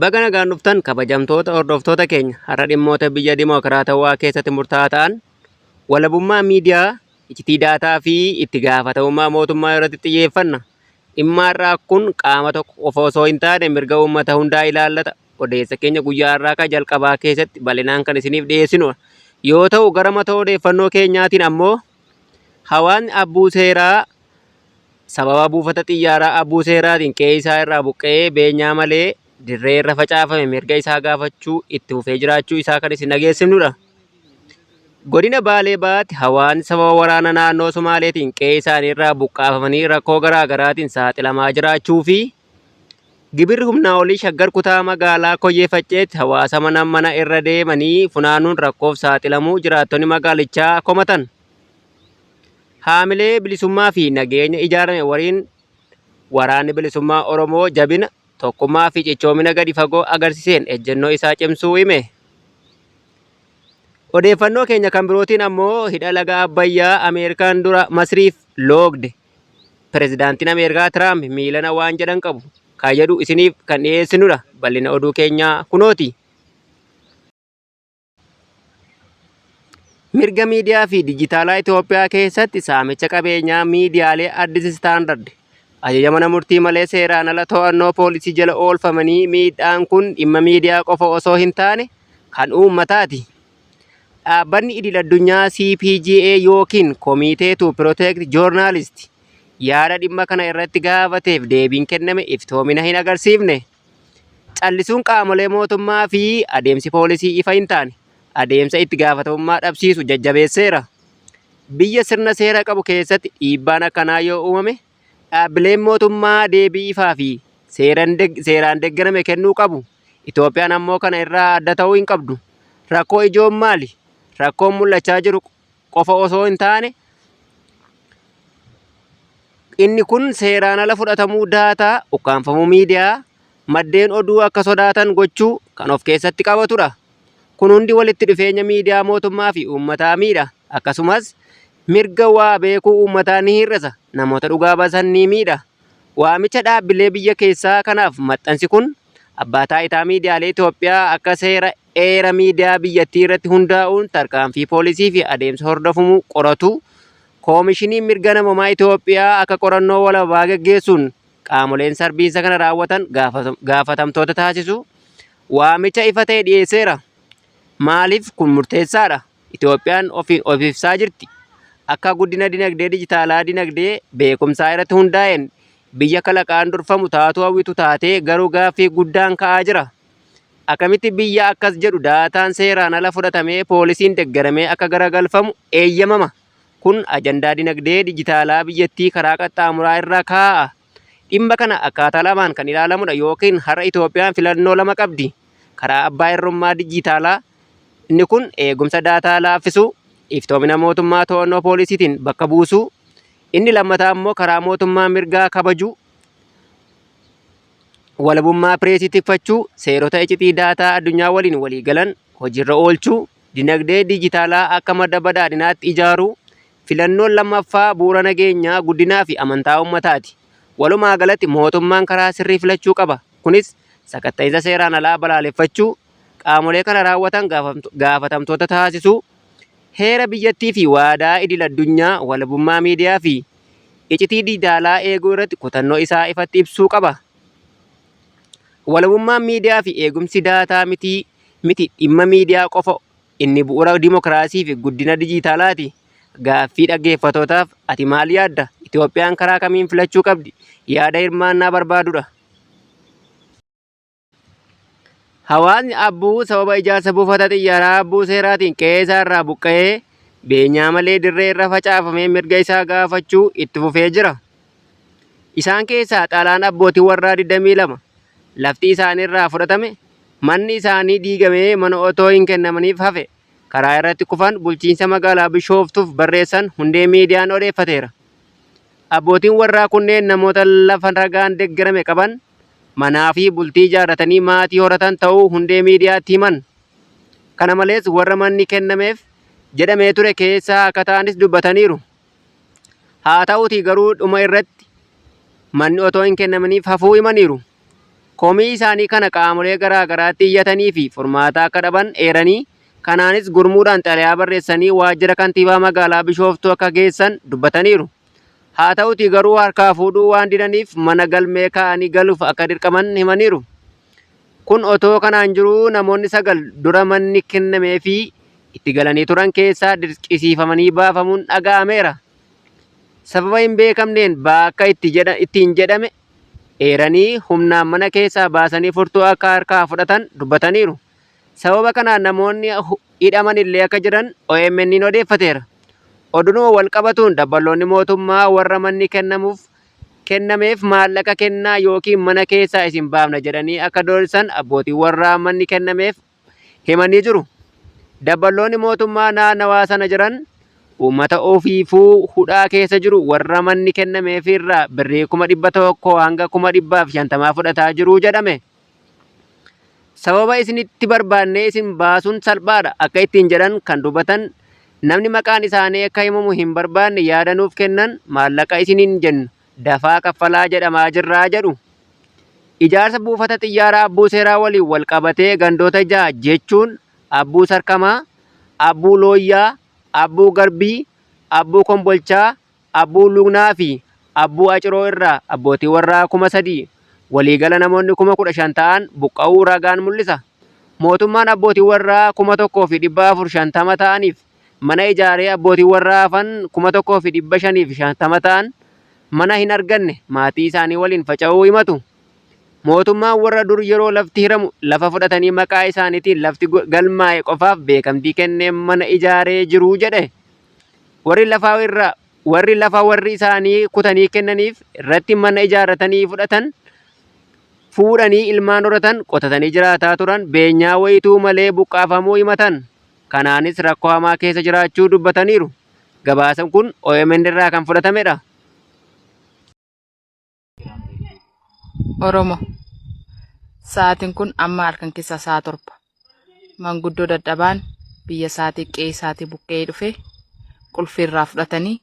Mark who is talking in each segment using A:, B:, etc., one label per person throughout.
A: Baga nagaan dhuftan kabajamtoota hordoftoota keenya har'a dhimmoota biyya dimookiraatawaa keessatti murtaa'aa ta'an walabummaa miidiyaa, iccitii daataa fi itti gaafatamummaa mootummaa irratti xiyyeeffanna. Dhimma har'aa kun qaama tokko qofa osoo hin taane mirga uummata hundaa ilaallata. Odeessa keenya guyyaa har'aa kan jalqabaa keessatti bal'inaan kan isiniif dhiyeessinu yoo ta'u gara mata odeeffannoo keenyaatiin ammoo hawaasni abbuu seeraa Sababa buufata xiyyaaraa Abuu Seeraatiin qe'ee isaa irraa buqqa'ee beenyaa malee dirree irra facaafame mirga isaa gaafachuu itti fufee jiraachuu isaa kan isin dhageessifnudha. Godina Baalee Bahaatti hawaasni sababa waraana naannoo Somaaleetiin qe'ee isaanii irraa buqqaafamanii rakkoo garaa garaatiin saaxilamaa jiraachuu fi gibirri humnaa olii shaggar kutaa magaalaa Koyyee Facceetti hawaasa mana mana irra deemanii funaanuun rakkoof saaxilamuu jiraattonni magaalichaa komatan. Haamilee bilisummaa fi nageenya ijaarame waliin Waraanni Bilisummaa Oromoo jabina, tokkummaa fi cichoomina gadi fagoo agarsiiseen ejjennoo isaa cimsuu hime. Odeeffannoo keenya kan birootiin ammoo hidha laga Abbayyaa Ameerikaan dura Masriif loogde pirezidaantiin Ameerikaa Tiraamp miilana waan jedhan qabu kan jedhu isiniif kan dhiyeessinudha. Bal'ina oduu keenyaa kunooti. Mirga miidiyaa fi dijitaalaa Itoophiyaa keessatti saamicha qabeenyaa miidiyaalee Addis Standard ajaja mana murtii malee seeraan ala to'annoo poolisii jala oolfamanii miidhaan kun dhimma miidiyaa qofa osoo hin taane kan uummataati. Dhaabbanni idil addunyaa CPGA yookiin Komiitee to Protect Journalist yaada dhimma kana irratti gaafateef deebiin kenname iftoomina hin agarsiifne. Callisuun qaamolee mootummaa fi adeemsi poolisii ifa hin taane adeemsa itti gaafatamummaa dhabsiisu jajjabeesseera. Biyya sirna seera qabu keessatti dhiibbaan akkanaa yoo uumame dhaabbileen mootummaa deebii ifaa fi seeraan deeggarame kennuu qabu. Itoophiyaan ammoo kana irraa adda ta'uu hin qabdu. Rakkoo ijoon maali? Rakkoon mul'achaa jiru qofa osoo hin taane inni kun seeraan ala fudhatamuu daataa, ukkaamfamuu miidiyaa, maddeen oduu akka sodaatan gochuu kan of keessatti qabatudha. Kun hundi walitti dhufeenya miidiyaa mootummaa fi uummataa miidha. Akkasumas mirga waa beekuu uummataa ni hir'isa, namoota dhugaa basan ni miidha. Waamicha dhaabbilee biyya keessaa kanaaf maxxansi kun Abbaa Taayitaa Miidiyaalee Itoophiyaa akka seera Heera miidiyaa biyyattii irratti hundaa'uun tarkaanfii poolisii fi adeemsa hordofumu qoratu Koomishiniin Mirga Namoomaa Itoophiyaa akka qorannoo walabaa gaggeessuun qaamoleen sarbiinsa kana raawwatan gaafatamtoota taasisu waamicha ifa ta'e dhiyeesseera. Maaliif kun murteessaadha? Itoophiyaan ofiin of ibsaa jirti. Akka guddina dinagdee dijitaalaa dinagdee beekumsaa irratti hundaa'een biyya kalaqaan durfamu taatuu hawwitu taatee garuu gaaffii guddaan ka'aa jira. Akkamitti biyya akkas jedhu daataan seeraan ala fudhatamee poolisiin deggaramee akka garagalfamu eeyyamama? Kun ajandaa dinagdee dijitaalaa biyyattii karaa qaxxaamuraa irra kaa'a. Dhimma kana akkaataa lamaan kan ilaalamudha yookiin har'a Itoophiyaan filannoo lama qabdi. Karaa abbaa irrummaa dijitaalaa inni kun eegumsa daataa laaffisuu, iftoomina mootummaa to'annoo poolisiitiin bakka buusuu, inni lammataa immoo karaa mootummaa mirgaa kabajuu. walabummaa pireesii tikfachuu, seerota icitii daataa addunyaa waliin walii galan hojiirra oolchuu, dinagdee diijitaalaa akka madda badhaadhinaatti ijaaruu, filannoon lammaffaa bu'uura nageenyaa, guddinaa fi amantaa uummataati. Walumaa galatti mootummaan karaa sirrii filachuu qaba. Kunis sakatta'insa seeraan alaa balaaleffachuu, qaamolee kana raawwatan gaafatamtoota taasisuu, heera biyyattii fi waadaa idil addunyaa, walabummaa miidiyaa fi icitii dijitaalaa eeguu irratti kutannoo isaa ifatti ibsuu qaba. Walabummaan miidiyaa fi eegumsi daataa mitii miti dhimma miidiyaa qofa inni bu'uura dimokiraasii fi guddina dijitaalaati. Gaaffii dhaggeeffatootaaf ati maal yaadda? Itoophiyaan karaa kamiin filachuu qabdi? Yaada hirmaannaa barbaadudha. Hawaasni Abbuu sababa ijaarsa buufata xiyyaaraa Abbuu Seeraatiin qe'ee isaa irraa buqqa'ee beenyaa malee dirree irra facaafamee mirga isaa gaafachuu itti fufee jira. Isaan keessaa xalaan abbootii warraa 22 lafti isaanii irraa fudhatame, manni isaanii diigamee mana otoo hin kennamaniif hafe karaa irratti kufan bulchiinsa magaalaa Bishooftuuf barreessan hundee miidiyaan odeeffateera. Abbootiin warraa kunneen namoota lafa ragaan deggerame qaban manaa fi bultii ijaarratanii maatii horatan ta'uu hundee miidiyaatti himan. Kana malees warra manni kennameef jedhamee ture keessaa akka ta'anis dubbataniiru. Haa ta'uutii garuu dhuma irratti manni otoo hin kennaminiif hafuu himaniiru. Komii isaanii kana qaamolee garaa garaatti iyyatanii fi furmaataa akka dhaban eeranii kanaanis gurmuudhaan xalayaa barreessanii waajjira kantiibaa magaalaa Bishooftuu akka geessan dubbataniiru. Haa ta'utii garuu harkaa fuudhuu waan didaniif mana galmee kaa'anii galuuf akka dirqaman himaniiru. Kun otoo kanaan jiruu namoonni sagal dura manni kennameefii itti galanii turan keessaa dirqisiifamanii baafamuun dhaga'ameera. Sababa hin beekamneen ba'aa akka ittiin jedhame eeranii humnaan mana keessaa baasanii furtuu akka harkaa fudhatan dubbataniiru. Sababa kanaan namoonni hidhaman illee akka jiran OMN'n odeeffateera. Odunuma wal qabatuun dabballoonni mootummaa warra manni kennamuuf kennameef maallaqa kennaa yookiin mana keessaa isin baafna jedhanii akka doorsisan abbootiin warraa manni kennameef himanii jiru. Dabballoonni mootummaa naannawaa sana jiran uummata ofiifuu hudhaa keessa jiru warra manni kennameefiirraa birrii kuma 100 hanga kuma 150 fudhataa jiru jedhame. Sababa isinitti barbaannee isin baasuun salphaadha akka ittiin jedhan kan dubbatan namni maqaan isaanii akka himamu hin barbaanne yaada nuuf kennan maallaqa isiniin jennu dafaa kaffalaa jedhamaa jirraa jedhu. Ijaarsa buufata xiyyaaraa Abbuu Seeraa waliin wal qabatee gandoota ja'a jechuun Abbuu Sarkamaa, Abbuu Looyyaa, Abbuu Garbii, Abbuu Kombolchaa, Abbuu Lugnaa fi Abbuu Aciroo irraa abbootii warraa 3,000, waliigala namoonni 15,000 ta'an buqqa'uu ragaan mul'isa. Mootummaan abbootii warraa 1,450 ta'aniif mana ijaaree abbootii warraa hafan 1,550 ta'an mana hin arganne maatii isaanii waliin faca'uu himatu. Mootummaan warra dur yeroo lafti hiramu lafa fudhatanii maqaa isaaniitiin lafti galmaa'e qofaaf beekamtii kennee mana ijaaree jiru jedhe. Warri lafa irra warri lafa warri isaanii kutanii kennaniif irratti mana ijaarratanii fudhatan fuudhanii ilmaan horatan qotatanii jiraataa turan beenyaa wayituu malee buqqaafamuu himatan. Kanaanis rakkoo hamaa keessa jiraachuu dubbataniiru. Gabaasan kun omn irraa kan fudhatamedha.
B: Oromo. Sa'aatiin kun amma halkan keessaa sa'a torba. Manguddoo dadhabaan biyya isaatii qe'ee isaatii buqqa'ee dhufe qulfii irraa fudhatanii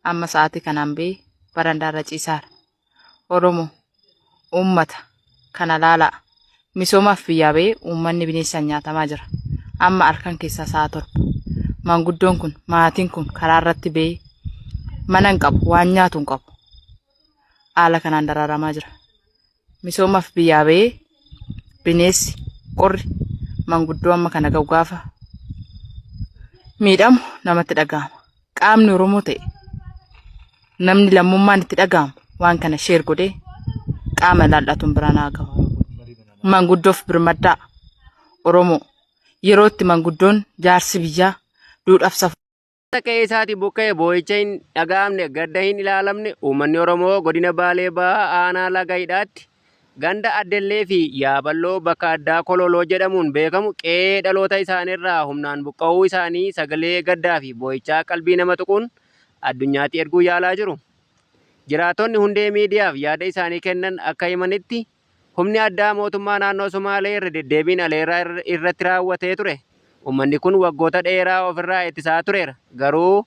B: amma sa'aatii kanaan bee barandaa irra ciisaara. Oromo. Uummata. Kana laalaa. Misoomaaf biyyaa ba'ee uummanni bineensaan nyaatamaa jira. Amma halkan keessaa sa'a torba. Manguddoon kun maatiin kun karaa irratti ba'ee mana hin qabu waan nyaatu hin qabu. haala kanaan daraaramaa jira. Misoomaaf biyyaa ba'ee bineensi qorri manguddoo amma kana ga'u gaafa miidhamu namatti dhaga'ama. Qaamni Oromoo ta'e namni lammummaan itti dhaga'amu waan kana sheer godhee qaama ilaallatuun biraan haa gahu. Manguddoof birmaddaa Oromoo yeroo itti manguddoon jaarsi biyyaa duudhaaf safuu. Akka qe'ee isaatii
A: buqqa'e boo'icha hin dhaga'amne, gadda hin ilaalamne uummanni Oromoo Godina Baalee Bahaa Aanaa Laga Hidhaatti ganda Addellee fi Yaaballoo bakka addaa Kololoo jedhamuun beekamu qe'ee dhaloota isaaniirraa humnaan buqqa'uu isaanii sagalee gaddaa fi boo'ichaa qalbii nama tuquun addunyaatti erguu yaalaa jiru. Jiraattonni hundee miidiyaaf yaada isaanii kennan akka himanitti, Humni addaa mootummaa naannoo Somaalee irra deddeebiin aleerraa irratti raawwatee ture. Ummanni kun waggoota dheeraa ofirraa ittisaa tureera. Garuu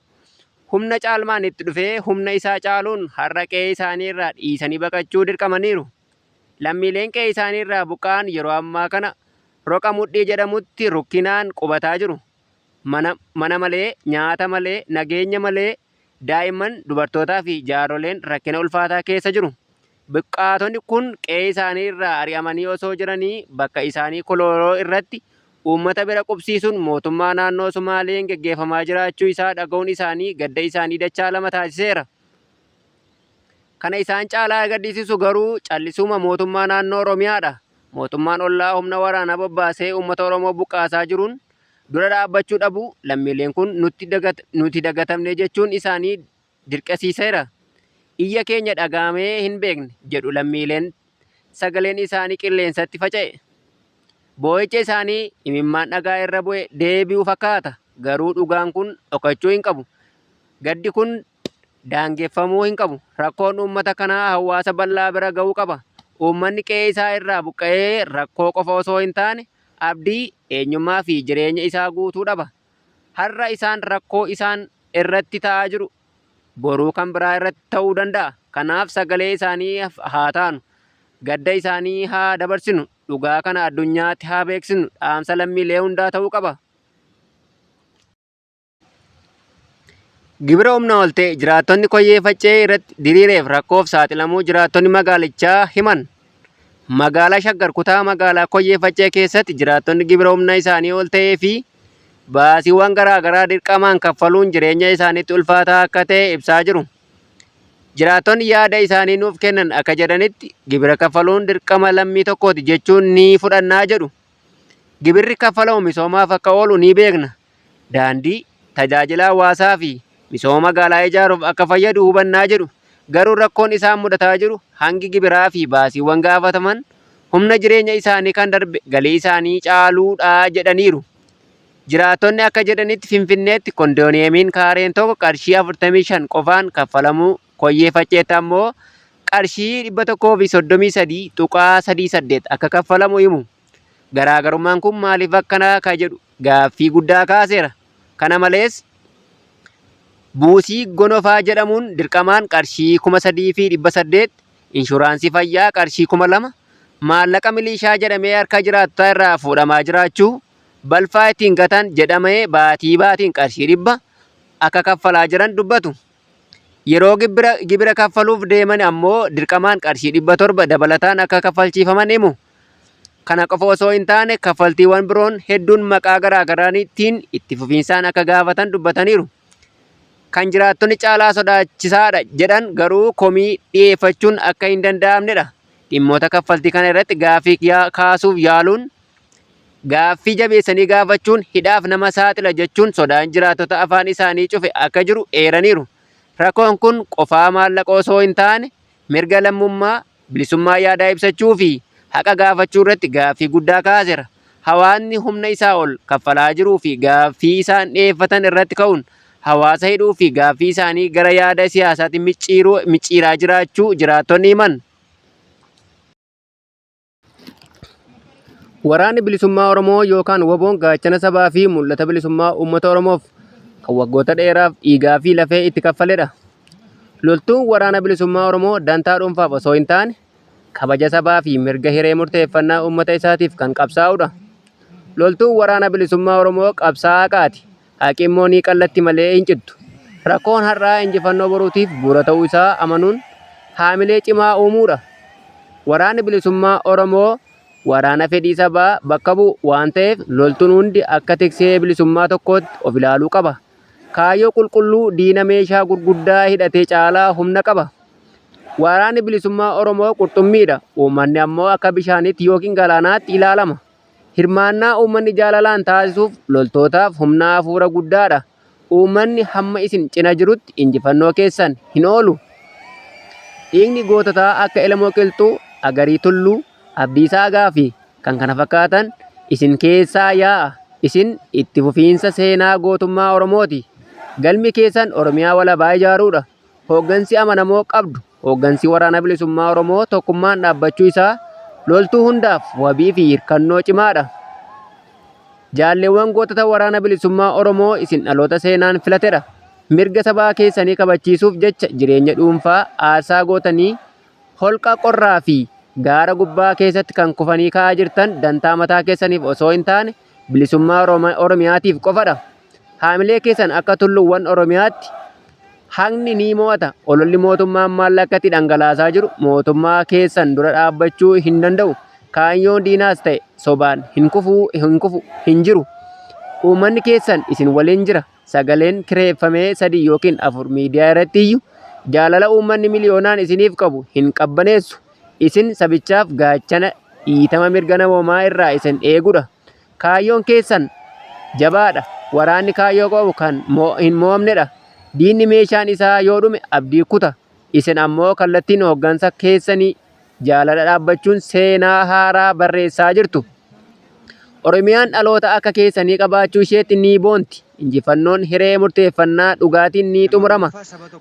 A: humna caalmaan itti dhufee humna isaa caaluun har'a qe'ee isaanii irraa dhiisanii baqachuu dirqamaniiru. Lammiileen qe'ee isaanii irraa buqqa'an yeroo ammaa kana Roqa Mudhii jedhamutti rukkinaan qubataa jiru. Mana malee, nyaata malee, nageenya malee Daa'imman, dubartootaa fi jaarroleen rakkina ulfaataa keessa jiru. Buqqaatonni kun qe'ee isaanii irraa ari'amanii osoo jiranii bakka isaanii Kolooloo irratti uummata bira qubsiisuun mootummaa naannoo Sumaaleen geggeeffamaa jiraachuu isaa dhaga'uun isaanii gadda isaanii dachaa lama taasiseera. Kana isaan caalaa gaddisiisu garuu callisuuma mootummaa naannoo Oromiyaa dha. Mootummaan ollaa humna waraanaa bobbaasee uummata Oromoo buqqaasaa jiruun dura dhaabbachuu dhabuu lammiileen kun nuti dagatamne jechuun isaanii dirqesiiseera. Iyya keenya dhaga'amee hin beekne jedhu lammiileen sagaleen isaanii qilleensatti faca'e. Boo'icha isaanii imimmaan dhagaa irra bu'e deebi'u fakkaata, garuu dhugaan kun dhokachuu hin qabu. Gaddi kun daangeffamuu hin qabu. Rakkoon uummata kanaa hawaasa bal'aa bira ga'uu qaba. Uummanni qe'ee isaa irraa buqqa'ee rakkoo qofa osoo hin taane abdii, eenyummaa fi jireenya isaa guutuu dhaba. Har'a isaan rakkoo isaan irratti ta'aa jiru boruu kan biraa irratti ta'uu danda'a. Kanaaf sagalee isaaniif haa taanu. Gadda isaanii haa dabarsinu. Dhugaa kana addunyaatti haa beeksisnu dhaamsa lammiilee hundaa ta'uu qaba. Gibira humna ol ta'e jiraattonni Koyyee Faccee irratti diriireef rakkoof saaxilamuu jiraattonni magaalichaa himan. Magaalaa Shaggar kutaa magaalaa Koyyee Faccee keessatti jiraattonni gibira humna isaanii ol ta'ee fi baasiiwwan garaagaraa dirqamaan kaffaluun jireenya isaaniitti ulfaataa akka ta'e ibsaa jiru. Jiraattonni yaada isaanii nuuf kennan akka jedhanitti gibira kaffaluun dirqama lammii tokkooti jechuun ni fudhannaa jedhu. Gibirri kaffalamu misoomaaf akka oolu ni beekna. Daandii, tajaajila hawaasaa fi misooma magaalaa ijaaruuf akka fayyadu hubanna jedhu. Garuu rakkoon isaan mudataa jiru hangi gibiraa fi baasiiwwan gaafataman humna jireenya isaanii kan darbe galii isaanii caaluudha jedhaniiru. Jiraattonni akka jedhanitti Finfinneetti kondooniyeemiin kaareen tokko qarshii 45 qofaan kaffalamuu Koyyee Facceetti ammoo qarshii 133.38 akka kaffalamu himu. Garaagarummaan kun maaliif akkana ka jedhu gaaffii guddaa kaaseera. Kana malees buusii gonofaa jedhamuun dirqamaan qarshii 3,800, inshuraansii fayyaa qarshii 2,000, maallaqa miliishaa jedhamee harka jiraattotaa irraa fuudhamaa jiraachuu, balfaa ittiin gatan jedhamee baatii baatiin qarshii 100 akka kaffalaa jiran dubbatu. Yeroo gibira kaffaluuf deeman ammoo dirqamaan qarshii 700 dabalataan akka kaffalchiifaman himu. Kana qofa osoo hin taane kaffaltiiwwan biroon hedduun maqaa garaagaraatiin itti fufiinsaan akka gaafatan dubbataniiru. Kan jiraattonni caalaa sodaachisaadha jedhan garuu komii dhiyeeffachuun akka hin danda'amnedha. Dhimmoota kaffaltii kana irratti gaaffii kaasuuf yaaluun Gaaffii jabeessanii gaafachuun hidhaaf nama saaxila jechuun sodaan jiraattota afaan isaanii cufe akka jiru eeraniiru. Rakoon kun qofaa maallaqa osoo hin taane mirga lammummaa, bilisummaa yaadaa ibsachuu fi haqa gaafachuu irratti gaaffii guddaa kaasera. Hawaasni humna isaa ol kaffalaa jiruu fi gaaffii isaan dhiyeeffatan irratti ka'uun hawaasa hidhuu fi gaaffii isaanii gara yaada siyaasaatti micciiraa jiraachuu jiraattonni himan. Waraanni Bilisummaa Oromoo yookaan WBOn gaachana sabaa fi mul'ata bilisummaa uummata Oromoof kan waggoota dheeraaf dhiigaa fi lafee itti kaffaledha. Loltuun Waraana Bilisummaa Oromoo dantaa dhuunfaaf osoo hin taane kabaja sabaa fi mirga hiree murteeffannaa uummata isaatiif kan qabsaa'udha. Loltuun Waraana Bilisummaa Oromoo qabsaa'aa haqaati. Haqi immoo ni qallatti malee hin cittu. Rakkoon har'aa injifannoo boruutiif bu'uura ta'uu isaa amanuun haamilee cimaa uumuu dha. Waraanni Bilisummaa Oromoo waraana fedhii sabaa bakka bu'u waan ta'eef loltuun hundi akka tiksee bilisummaa tokkootti of ilaaluu qaba. Kaayyoo qulqulluu diina meeshaa gurguddaa hidhate caalaa humna qaba. Waraanni Bilisummaa Oromoo qurxummii dha, uummanni ammoo akka bishaaniitti ykn galaanaatti ilaalama. Hirmaannaa uummanni jaalalaan taasisuuf loltootaaf humna hafuura guddaadha. Uummanni hamma isin cina jirutti injifannoo keessan hin oolu. Dhiigni goototaa akka Elemoo Qilxuu, Agarii Tulluu, Abdiisaa Agaa fi kan kana fakkaatan isin keessaa yaa'a. Isin itti fufiinsa seenaa gootummaa Oromooti. Galmi keessan Oromiyaa walabaa ijaaruudha. Hooggansi amanamoo qabdu, hooggansi Waraana Bilisummaa Oromoo tokkummaan dhaabbachuu isaa loltuu hundaaf wabii fi hirkannoo cimaa dha. Jaalleewwan gootota Waraana Bilisummaa Oromoo isin dhaloota seenaan filate dha. Mirga sabaa keessanii kabachiisuuf jecha jireenya dhuunfaa aarsaa gootanii holqa qorraa fi gaara gubbaa keessatti kan kufanii ka'aa jirtan dantaa mataa keessaniif osoo hin taane Bilisummaa Oromo- Oromiyaatiif qofadha. Haamilee keessan akka tulluuwwan Oromiyaatti haqni ni mo'ata. Ololli mootummaan maallaqatti dhangalaasaa jiru mootummaa keessan dura dhaabbachuu hin danda'u. Kaayyoon diinaas ta'e sobaan hin kufu, hin kufu, hin jiru. Uummanni keessan isin waliin jira. Sagaleen kireeffamee sadii yookiin afur miidiyaa irratti iyyu jaalala uummanni miliyoonaan isiniif qabu hin qabbaneessu. Isin sabichaaf gaachana dhiitama mirga namoomaa irraa isin eegudha. Kaayyoon keessan jabaadha. Waraanni kaayyoo qabu kan hin mo'amnedha. Diinni meeshaan isaa yoo dhume abdii kuta. Isin ammoo kallattiin hooggansa keessanii jaalala dhaabbachuun seenaa haaraa barreessaa jirtu. Oromiyaan dhaloota akka keessanii qabaachuu isheetti ni boonti. Injifannoon hiree murteeffannaa dhugaatiin ni xumurama.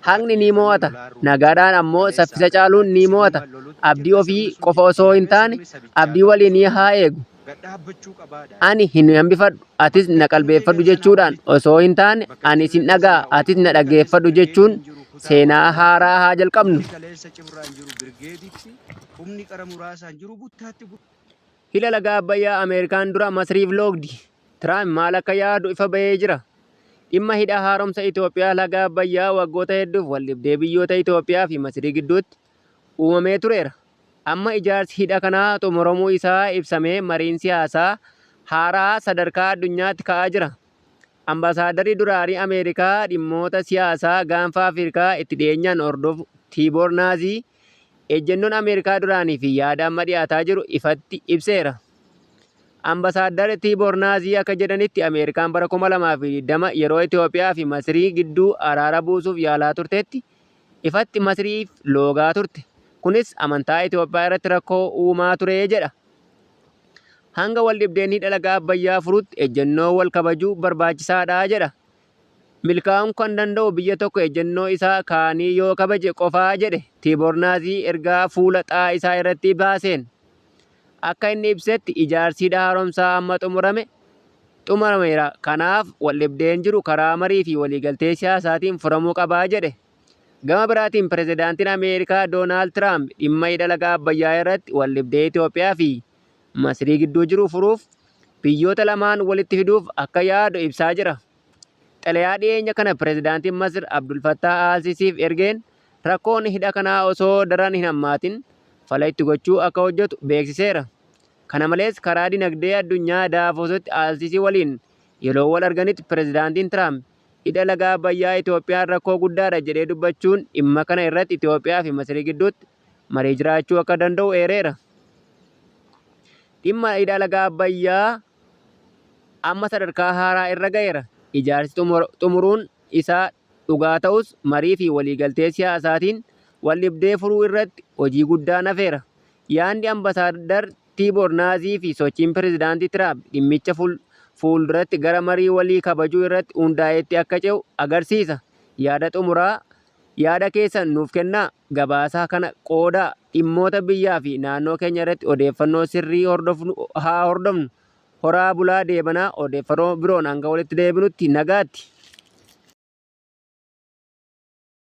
A: Haqni ni mo'ata. Nagaadhaan ammoo saffisa caaluun ni mo'ata. Abdii ofii qofa osoo hin taane abdii waliinii haa eegu. Ani hin hambifadhu, atis na qalbeeffadhu jechuudhaan osoo hin taane ani sin dhaga'a, atis na dhaggeeffadhu jechuun seenaa haaraa haa jalqabnu. Hidha Laga Abbayyaa Ameerikaan dura Masriif loogdi, Tiraamp maal akka yaadu ifa bahee jira. Dhimma Hidha Haaromsa Itoophiyaa Laga Abbayyaa waggoota hedduuf waldhibdee biyyoota Itoophiyaa fi Masrii gidduutti uumamee tureera. Amma ijaarsi hidha kanaa xumuramuu isaa ibsamee mariin siyaasaa haaraa sadarkaa addunyaatti ka'aa jira. Ambaasaaddarri duraanii Ameerikaa dhimmoota siyaasaa Gaanfa Afirkaa itti dhiyeenyaan hordofu Tiiboor Naazii, Ejjennoon Ameerikaa duraanii fi yaada amma dhiyaataa jiru ifatti ibseera. Ambasaaddar Tiiboor Naazii akka jedhanitti Ameerikaan bara 2020 yeroo Itoophiyaa fi Masrii gidduu araara buusuuf yaalaa turtetti ifatti Masriif loogaa turte. Kunis amantaa Itoophiyaa irratti rakkoo uumaa ture jedha. Hanga waldhibdeen hidha laga Abbayyaa furutti ejjennoo wal kabajuu barbaachisaadha jedha. Milkaa'uun kan danda'u biyya tokko ejjennoo isa kaanii yoo kabaje qofa, jedhe Tiiboor Naazii ergaa fuula xaa isaa irratti baaseen. Akka inni ibsetti ijaarsi hidha haaromsaa amma xumurame xumurameera, kanaaf waldhibdeen jiru karaa marii fi waliigaltee siyaasaatiin furamuu qaba jedhe. Gama biraatiin Pirezidaantiin Ameerikaa Doonaald Tiraamp dhimma hidha laga Abbayyaa irratti waldhibdee Itoophiyaa fi Masrii gidduu jiru furuuf biyyoota lamaan walitti fiduuf akka yaadu ibsaa jira. Xalayaa dhiyeenya kana pirezidaantiin Masir Abdul Fattaah al-Sisiif ergeen rakkoon hidha kanaa osoo daran hin hammaatin fala itti gochuu akka hojjetu beeksiseera. Kana malees karaa dinagdee addunyaa Daavositti al-Sisi waliin yeroo wal arganitti pirezidaantiin Tiraamp hidha laga Abbayyaa Itoophiyaan rakkoo guddaadha jedhee dubbachuun dhimma kana irratti Itoophiyaa fi Masrii gidduutti maree jiraachuu akka danda'u eereera. Dhimma hidha laga Abbayyaa amma sadarkaa haaraa irra ga'eera. Ijaarsi xumuruun isaa dhugaa ta'us marii fi waliigaltee siyaasaatiin waldhibdee furuu irratti hojii guddaan hafeera. Yaadni Ambasaaddar Tiiboor Naazii fi sochiin Pireezidaantii Tiraamp dhimmicha fuulduratti gara marii walii kabajuu irratti hundaa'eetti akka ce'u agarsiisa, yaada xumuraa Yaada keessan nuuf kennaa, gabaasaa kana qoodaa, dhimmoota biyyaa fi naannoo keenya irratti odeeffannoo sirrii hordofnu haa hordofnu. Horaa bulaa deebanaa odeeffanoo biroon hanga walitti deebinutti nagaatti!